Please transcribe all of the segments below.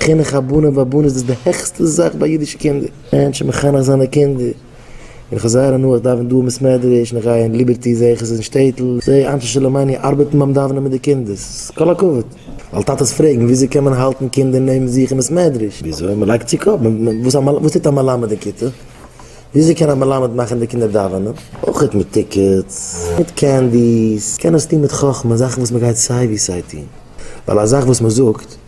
חינוך הבנים והבנות איז די העכסטע זאך ביי אידישע קינדער. מענטשן מחנך זיין די קינדער. און איך האב זייער הנאה, איך דאווען דא אין בית מדרש, און איך גיי אין ליבערטי, זע איך עס אין שטעטל, זע איך אנשי שלומינו ארבעטן ביים דאווענען מיט די קינדער, ס'איז כל הכבוד. ווייל טאטעס פרעגן, וויאזוי קען מען האלטן קינדער נעבן זיך אין בית מדרש? וויאזוי? מען לייגט צו קאפ. וואס טוט א מלמד אין כיתה? וויאזוי קען א מלמד מאכן די קינדער דאווענען? אויך מיט טיקעטס, מיט קענדיס. מען קען עס טון מיט חכמה, זאכן וואס מען גייט סיי ווי סיי טון. ווייל א זאך וואס מען זאגט.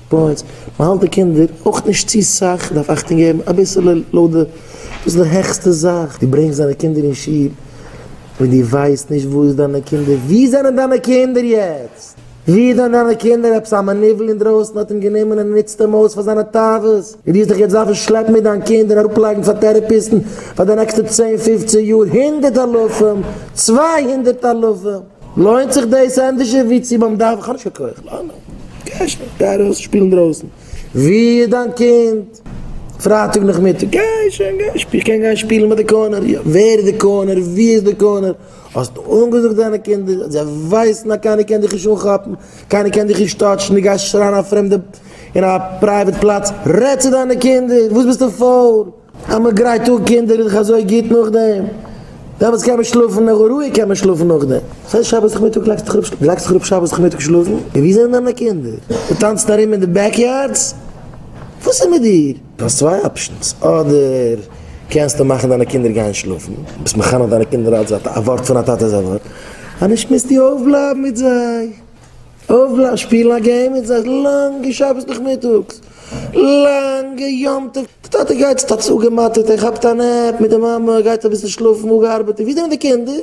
בויענס, מען האלט די קינדער אויך נישט צו סאך, דארף אכטונג געבן אביסעלע לויט די, דאס איז די העכסטע זאך, דו ברענגסט דיינע קינדער אין שול, און דו ווייסט נישט וואו איז דיינע קינדער, וואו זענען דיינע קינדער יעצט? וואו איז דען דיינע קינדער? עפעס א מניוול אינדרויסן האט אים גענומען און ער נוצט אים אויס פאר זיינע תאוות, און דו וועסט דיך יעצט דארפן שלעפן מיט דיין קינד און אראפלייגן פאר טערעפיסטן פאר די נעקסטע צען פופצען יאר הונדערט אלפים, צוויי הונדערט אלפים. לוינט זיך דאס ענדערשער ווי צו ביים דארף? איך האב נישט קיין כח, לאמיר גיין שוין, גיי ארויס שפילן דרויסן, ווי איז דיין קינד? פרייטאג נאכמיטאג, גיי שוין גיי שפילן, איך קען גיין שפילן ביי די קארנער, יא, ווער איז די קארנער? ווי איז די קארנער? האסט אנגעזאגט דיינע קינדער, זיי ווייסן אז קיינער קען דיך נישט אנכאפן, קיינער קען דיך נישט טאטשן, דו גייסט שרייען א פרעמדע אין א פרייוועט פלאץ, רעד צו דיינע קינדער, וואס ביסטו פויל? אז מען גרייט אן קינדער איז דאך אזוי גוט נאכדעם, שבת קען מען שלאפן און רואיג קען מען שלאפן נאכדעם, דאס הייסט שבת נאכמיטאג לייגסט דיך אראפ, לייגסט דיך אראפ שבת נאכמיטאג שלאפן, און ווי זענען דיינע קינדער? זיי טאנצן ארום אין די בעק יארדס? וואס איז מיט דיר? דו האסט צוויי אפשענס, אדער קענסטו מאכן דיינע קינדער גיין שלאפן, ביסט מחנך דיינע קינדער אלץ א ווארט פון א טאטע איז א ווארט, אז נישט מוזטו אויפבלייבן מיט זיי, אויב שפילן א געים מיט זיי לאנגע שבת נאכמיטאגס, לאנגע יום טוב, די טאטע גייט צו טאטעס אפגעמאטערט, ער כאפט א נעפ, מיט די מאמע גייט אביסל שלאפן אפגעארבעט, און ווידער מיט די קינדער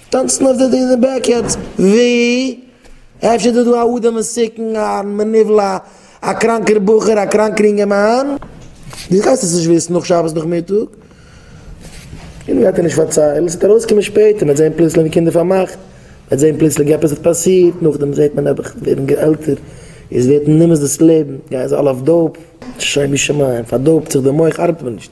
טאנצן אויף די די בעקיארדס, ווי? אפשר איז דא דא א אדם מסוכן, א מנוול, א קראנקער בחור, א קראנקער אינגערמאן, דו גייסט עס נישט וויסן נאך שבת נאכמיטאג. און גייט ער נישט פארציילן, עס וועט ארויסקומען שפעטער, מ'העט זען פלוצלינג די קינדער פארמאכט, מ'העט זען פלוצלינג עפעס האט פאסירט, נאכדעם זעט מען נעבעך ווערן עלטער, איז ווערט מען נמאס דאס לעבן, גייען זיי אלע אויף דאופ, שוימי שמים, פארדאופט זיך די מח ארבעט מער נישט.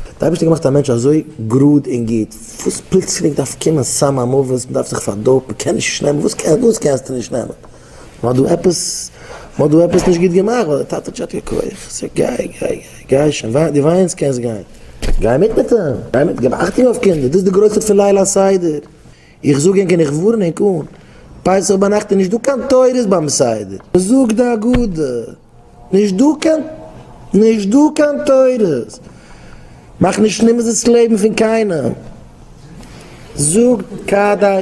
האט די אייבערשטער געמאכט א מענטש אזוי גראד און גוט, וואס פלוצלינג דארף קומען סם המוות, מ'דארף זיך פארדאופן, מ'קען נישט נישט נעמען, וואס קענסטו נישט נעמען? מ'האט דא עפעס, מ'האט דא עפעס נישט גוט געמאכט, ווייל דער טאטע האט ג'האט יא כח. איך זאג, גיי, גיי, גיי, גיי שוין, וויי, דו וויינס, קענסט גיין. גיי מיט מיט אים, גיי מיט, געב אכטונג אויף קינדער, דאס איז די גרוסת פון ליל הסדר. איך זאג ענק און איך ווארן ענק אן, פסח ביינאכט איז נישט דא קיין תורות ביים סדר. מ'זאגט די הגדה, נישט דא קיין, נישט דא קיין תורות. מאך נישט נמאס דאס לעבן פון קיינעם. זאג כדי.